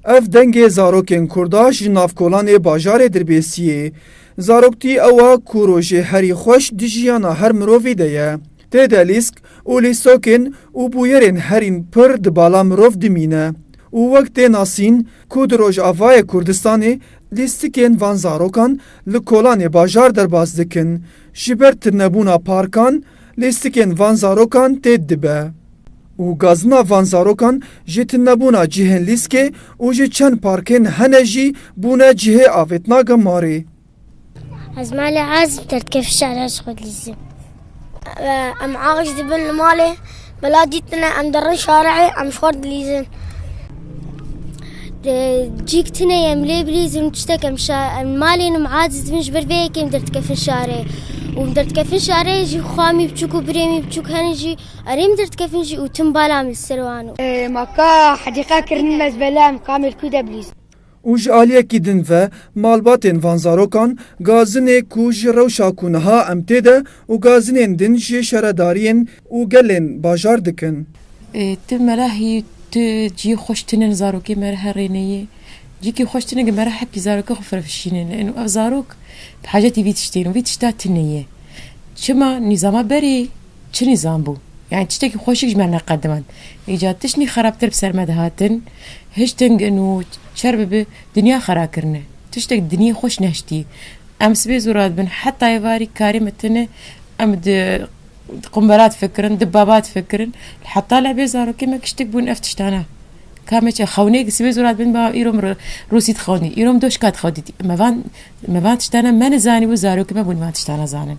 Ev dengê zarokên Kurda ji navkolanê bajarê dirbêsiyê. Zaroktî ewa ku rojê herî xweş di jiyana her mirovî de ye. Tê de lîsk û lîsokên û bûyerên herîn pir di bala mirov dimîne û wek tê nasîn ku di Rojavayê Kurdistanê lîstikên van zarokan li kolanê bajar derbas dikin ji ber tîrnebûna parkan, Lîstikên van zarokan têt dibe û gazina van zarokan ji tunebûna cihên lîskê û ji çend parkên hene jî bûne cihê avêtina gemarê. Ez malê Azim tertkevî şerê ji xwe dilîzim. Em ax dibin li malê, bila dîtine em dirin şarê, em ji xwe dilîzin. Cîk tune em lê bilîzim tiştekem em malên em aciz dibin ji ber vê yekê em derdikefin şarê û em derdikefin şarê jî xwa mî biçûk û birê mî biçûk henin jî erê em derdikefin jî û tim bala min li ser wan. Ma ka hedîqa kirin mezbele em ka mêrkû de bilîzin. Û ji aliyekî din ve malbatên van zarokan gazinê ku ji rewşa ku niha em tê de û gazinên din ji şaredariyên û gelên bajar dikin. Ti merahî tu ciyê xweş tînin zarokê merehe rêneyê cîkî xweş tînin ke merehe pî zarokê xwe firefişînin ên û ev zarok bi hacetî vî tiştên û vî tişta tîneyê. Çima nîzama berê Çi nîzam bû? Yanî tiştekî xweşik ji me neqedimand. Îcar tiştî xerabtir bi ser me dihatin, hiştingin û çer bibe dinya xera kirine. Tiştek dinyê xweş nehiştî. Em sibê zora dibin. Heta êvarî karê me tune em di qumbera difikirin, di baba difikirin. Heta lebê zarokê me kiştik bûn ev tiştane. Ka me çi xewnêk sibê zora dibin ba îro min rûsî dixewin dît, îro min doşka dixewin dît. Me van me van tiştane me nizanîbû zarokê me bûn van tiştane zanin.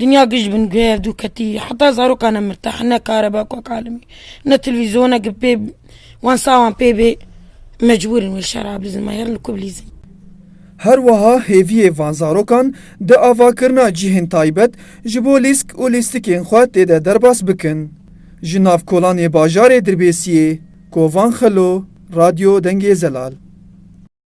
Dinya giş bin guhê ev du ketî. Heta zarokan e mirtah. Ne kareba ku kalimî. Ne televîzyona ku pê wan sawan pê bê. Mecbûr in wê şera bizin. Ma yerin li ku bilîzin. Her wiha hêviyê van zarokan di avakirina cihên taybet ji bo lîsk û lîstikên xwe tê de derbas bikin. Ji nav kolan yê bajarê Dirbêsiyê, Kovan Xelo, Radyo Dengê Zelal.